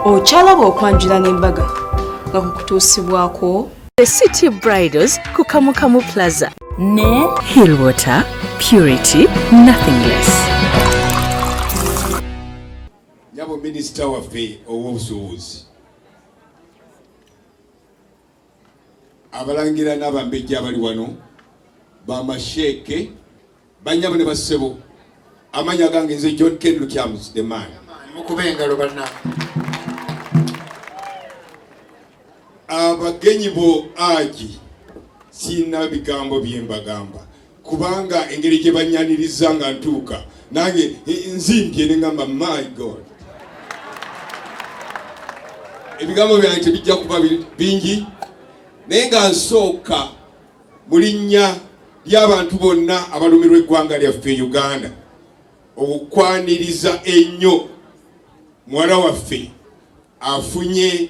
okyalaba okwanjula n'embaga nga kukutuusibwako the city bridals ku kamukamu plaza ne hill water purity nothing less nyabo minisita waffe ow'obusuubuzi abalangira n'abambejja abali wano bamasheeke banyabo ne bassebo amanya gange nze john ken lukyamus the man mukuba engalo banna abagenyi bo agi sirina bigambo byembagamba kubanga engeri gye bannyaniriza nga ntuuka nange nzimbye ne ngamba my god ebigambo byange tebijja kuba bingi naye nga nsooka mu linnya ly'abantu bonna abalumirwa eggwanga lyaffe uganda okwaniriza ennyo muwala waffe afunye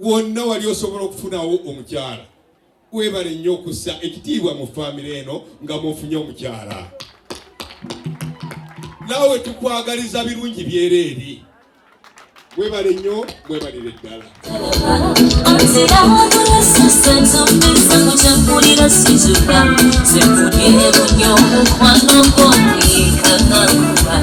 wonna wali osobola okufunawo omukyala webale nnyo okussa ekitiibwa mu famire eno nga mufunye omukyala naawe tukwagaliza birungi byereeri webale nnyo mwebalire ddala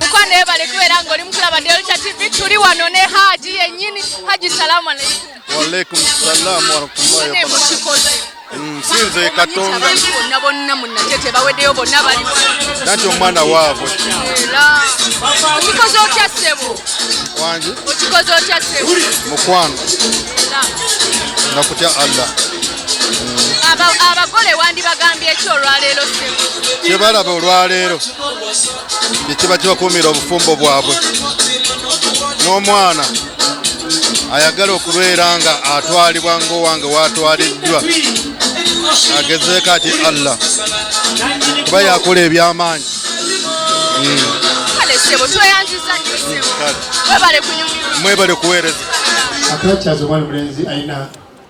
mukwano ebale kubeera nga oli mukulaba delta tv tuli wano ne haji yenyini haji salamu aleikum waalaikum salamu warahmatullahi wabarakatuh nsinze katonda nanti omwana waabwe wangi mukwano nakutya allah abagole wandibagambye ki olwaleero kyebalaba olwaleero kyekiba kibakuumira obufumbo bwabwe n'omwana ayagala okubeera nga atwalibwa ngaowange watwaliddwa agezeeko ati allah kuba yakola ebyamaanyi mwebale kuweereza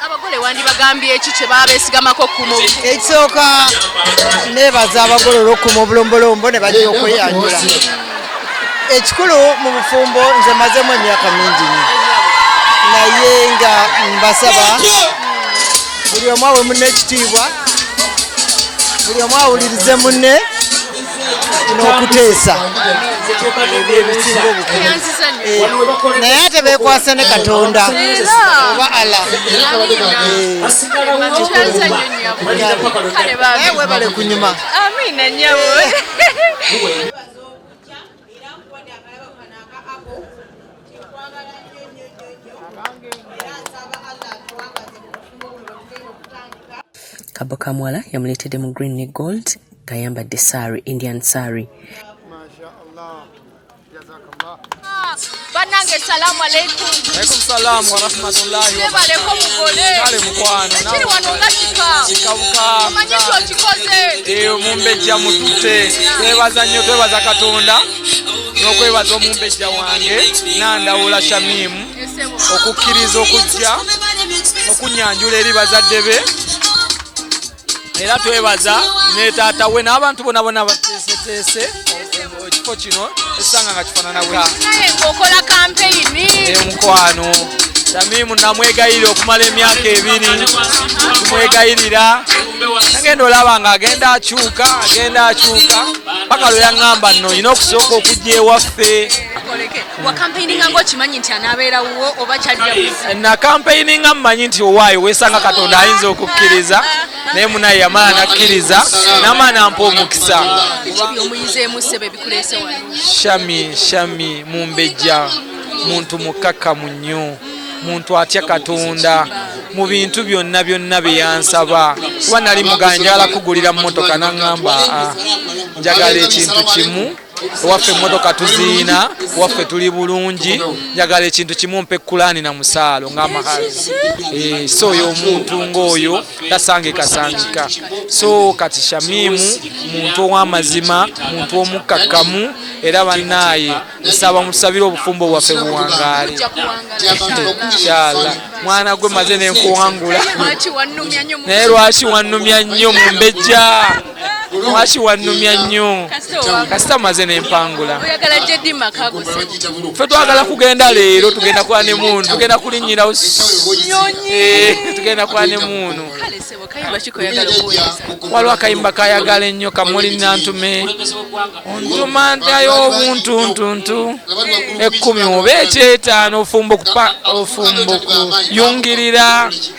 abagole wandibagambye eki kyebabesigamako okukuuma ekisooka nebaza abagole olwokukuma obulombolombo ne bajja okweyanjula ekikulu mu bufumbo nze mazemu emyaka mingi nyo naye nga mbasaba buli omu awe munne ekitiibwa buli omu awulirize munne n'okuteesa naye ate bekwasa ne katonda oba ala naye webale kunyuma kabokamwala yamuleetedde mu green ne gold ng'ayambadde sari indian sari banange salamu aleikum alaikum salam warahmatullahi nebaleko mugole kale mukwano kiri wano nga kika kika buka omanyi nti okikoze eyo mumbejja mutute twebaza nnyo twebaza katonda n'okwebaza omumbejja wange nandawula shamimu okukkiriza okujja okunyanjula eri bazadde be era twebaza ne taata we n'abantu bonabona bateeseteese ekifo kino esanga nga kifanana weokola kampeyini emukwano tamimu namwegayirira okumala emyaka ebiri kumwegayirira nagenda olaba nga agenda akyuka agenda akyuka paka lwe yaŋŋamba nno olina okusooka okujja ewaffe wakampeininga ngaokimanyi nti anaabeera wuwo oba kyalnakampeininga eh, mumanyi nti owaayo weesanga katonda ayinza okukkiriza naye munaye yamala nakkiriza namala nampa omukisa shami shami mumbejja muntu mukkakkamu nnyo muntu atya katonda mu bintu byonna byonna bye yansaba kuba nali mugala njagala kugulira mmotoka naŋŋamba ah, njagala ekintu kimu ewaffe emmotoka tuziina ewaffe tuli bulungi njagala ekintu kimu mpe kulaani na musaalo ng'amahazi eh, so oyo omuntu ng'oyo tasangikasangika so kati shamimu muntu ow'amazima muntu omukkakkamu era bannaaye nsaba mutusabire obufumbo bwaffe buwangaale inshallah mwana gwe maze nenkuwangula naye lwaki wannumya nnyo mumbejja lwaki wannumya nnyo kasita omaze nempangula fe twagala kugenda leero tugenda kwa ne muunu tugenda kulinyirawo eh, tugenda kwa ne muunu waliwo akayimba kayagala ennyo kamuli nantume ontuma ntayo obuntuntuntu ekkumi oba ekyetaano ofumba okuyungirira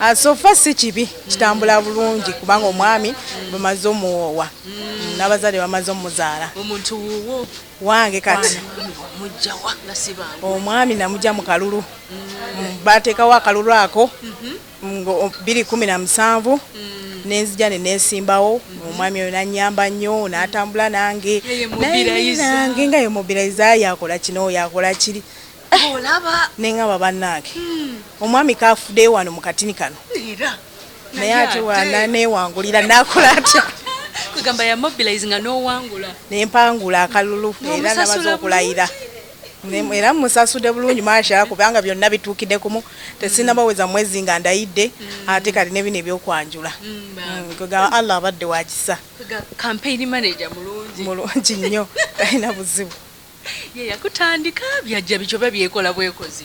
Ah, sofa si kibi kitambula bulungi kubanga omwami bamaze omuwoowa mm, n'abazadde bamaze omuzaala omuntu wuwo wange kati omwami namugya mu kalulu mm. mm, bateekawo akalulu ako mm-hmm. biri kumi na musanvu nenzija ne nesimbawo mm-hmm. omwami oyo nanyamba nnyo natambula nange nange nga yemobiliza yakola kino yakola kiri eh, olaba nengamba banange hmm. omwami kafudeyo wano mukatini kano naye ate wana newangulira nakola atya kwegamba ya mobilize nga nowangula nempangula akalulu era nabaza okulayira era musasude bulungi masha kubanga byonna bituukidde kumu tesinabaweza mwezi nga ndayidde mm. ate kati nebino ebyokwanjula mm, mm, kwegamba allah abadde wakisa mulungi nnyo talina buzibu ye yakutandika byajja bityo oba byekola bwekozi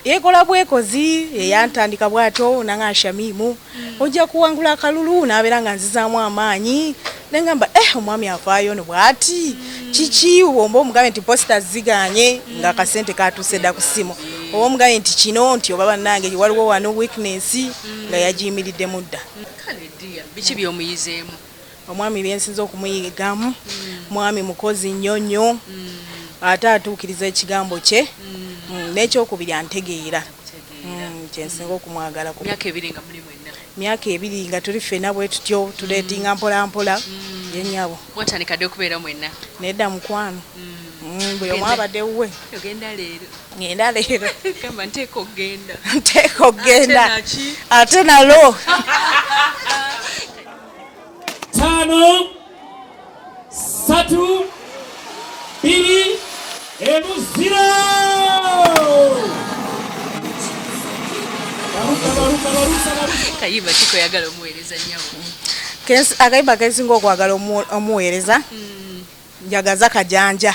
yekola bwekozi yeyantandika bwatyo nanga shamimu ojja kuwangula akalulu nabeera nga nzizaamu amaanyi nengamba eh omwami afaayo no bwati kiki womba omugabe nti posita ziganye nga akasente katuuse dda ku ssimu oba omugabe nti kino nti oba bannange waliwo wano weakness nga yagiyimiriddemu dda biki byomuyizeemu Omwami byensinze okumuyigamu mwami mukozi nnyo nnyo ate atuukiriza ekigambo kye mm, n'ekyokubiri antegeera mm, kyensinga okumwagala ku myaka ebiri nga muli mwenna myaka ebiri nga tuli ffena bwe tutyo tuleetinga mpolampola mm. yenyabo mwatandika dde okubeera mwenna nedda mukwano buli omu abadde wuwe ogenda leero ngenda leero gamba nteeka okugenda nteeka okugenda ate nalo tano satu biri emu zero kayimba kiko yagala omuweereza nyako akayimba kesinga okwagala omuweereza hmm. njagaza kajanja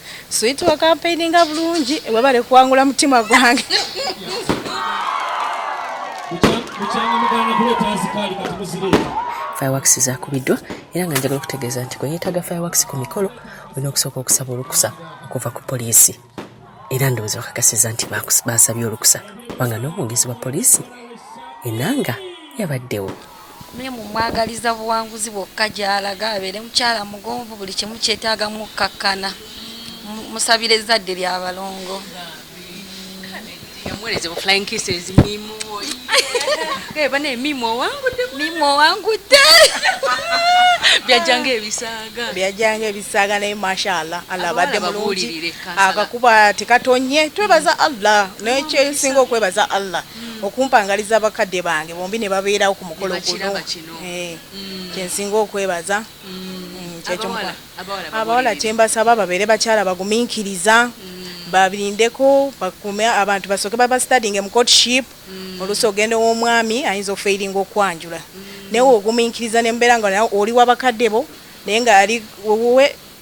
Sweet wa campaign nga bulungi webale kuwangula mutima gwange. Kuchanga mugana kule tazi kali kati muzireta. fireworks zakubiddwa era nga njagala okutegeeza nti kweyeetaaga fireworks ku mikolo olina okusooka okusaba olukusa okuva ku poliisi era ndowooza bakakasiza nti baasabye olukusa kubanga n'omwogezi wa poliisi enanga yabaddewo Miriam mmwagaliza buwanguzi bwokka gy'alaga, abeere mukyala mugonvu, buli kimu kyetaaga mukkakkana. Mmusabira ezzadde lya balongo. Yamuweerezebwa flying kisses mimu oyo. Gaye banaye mimu owangudde. Mimu owangudde. Byajjanga ebisaaga. Byajjanga ebisaaga naye mashallah Allah abadde mulungi. Akakuba tekatonye twebaza Allah. Naye kyesinga okwebaza Allah. mm. okumpangaliza abakadde bange bombi ne babeerawo ku mukolo guno eh, mm. kyensinga okwebaza mm. abawala kyembasaba babeere bakyala baguminkiriza babirindeko bakume abantu basooke babastadinge mu courtship oluusi ogenda ow'omwami ayinza okufeiringa okwanjula naye oguminkiriza nembeera nga oli wabakadde bo naye nga ali wuwe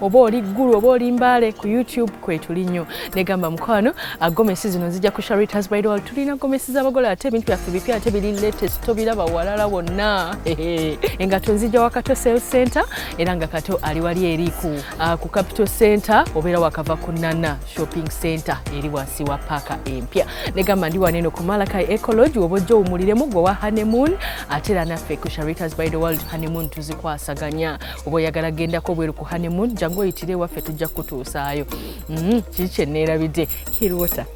oba oli ggulu oba oli mbaale ku youtube kwetuli nnyo negamba mukwano agomesi ah, zino nzija ku sharitas bridal tulina gomesi z'abagole ate ebintu byaffe bipya ate biri latest tobiraba walala wonna engato nzija wa kato sale center era nga kato ali wali eri ku ah, capital center obeera wakava ku nana shopping center eri wansi wa paaka empya negamba ndi waneno ku malakai ecology oba ojja owumuliremu gwe wa honeymoon ate era naffe ku sharitas bridal world honeymoon tuzikwasaganya oba oyagala gendako bweru ku honeymoon jangu oyitire ewaffe tujja kukutuusaayo mm-hmm. kiki kyeneerabidde hirwater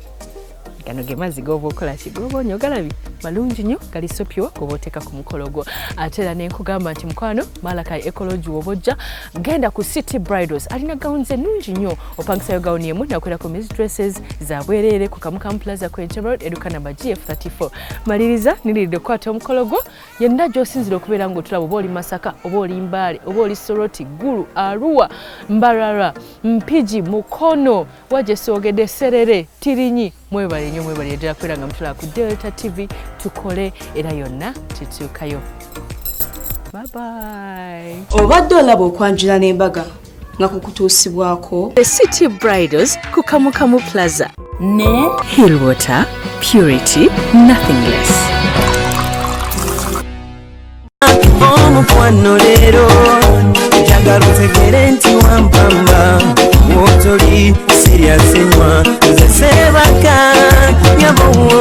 gano ge mazzi goba okola ki goba onyo galabi malungi nyo gali sopyo goba oteeka ku mukolo gwo ate era nenkugamba nti mukwano malakai ecologi woba ojja genda ku city bridals alina gawuni ze nungi nyo opangisayo gawuni emu nakolera ku mis dresses za bwereere ku kamukamu plaza ku entebrod eduka namba gf 34 maliriza niriridde okukwata omukolo gwo yenna gy'osinzira okubeera ng'otulaba oba oli masaka oba oli mbaale oba oli soroti gulu aruwa mbarara mpigi mukono wajesogede serere tirinyi mwebale nyo mwebale yedera kubeera nga mutulaba ku delta tv tukole era yonna tutuukayo babayi obadde olaba okwanjula n'embaga nga kukutuusibwako the city bridals ku kamukamu plaza ne hill water purity nothing less omukwano leero njagala otegere nti wampamba wotoli siryasenywa nze sebaka yabowo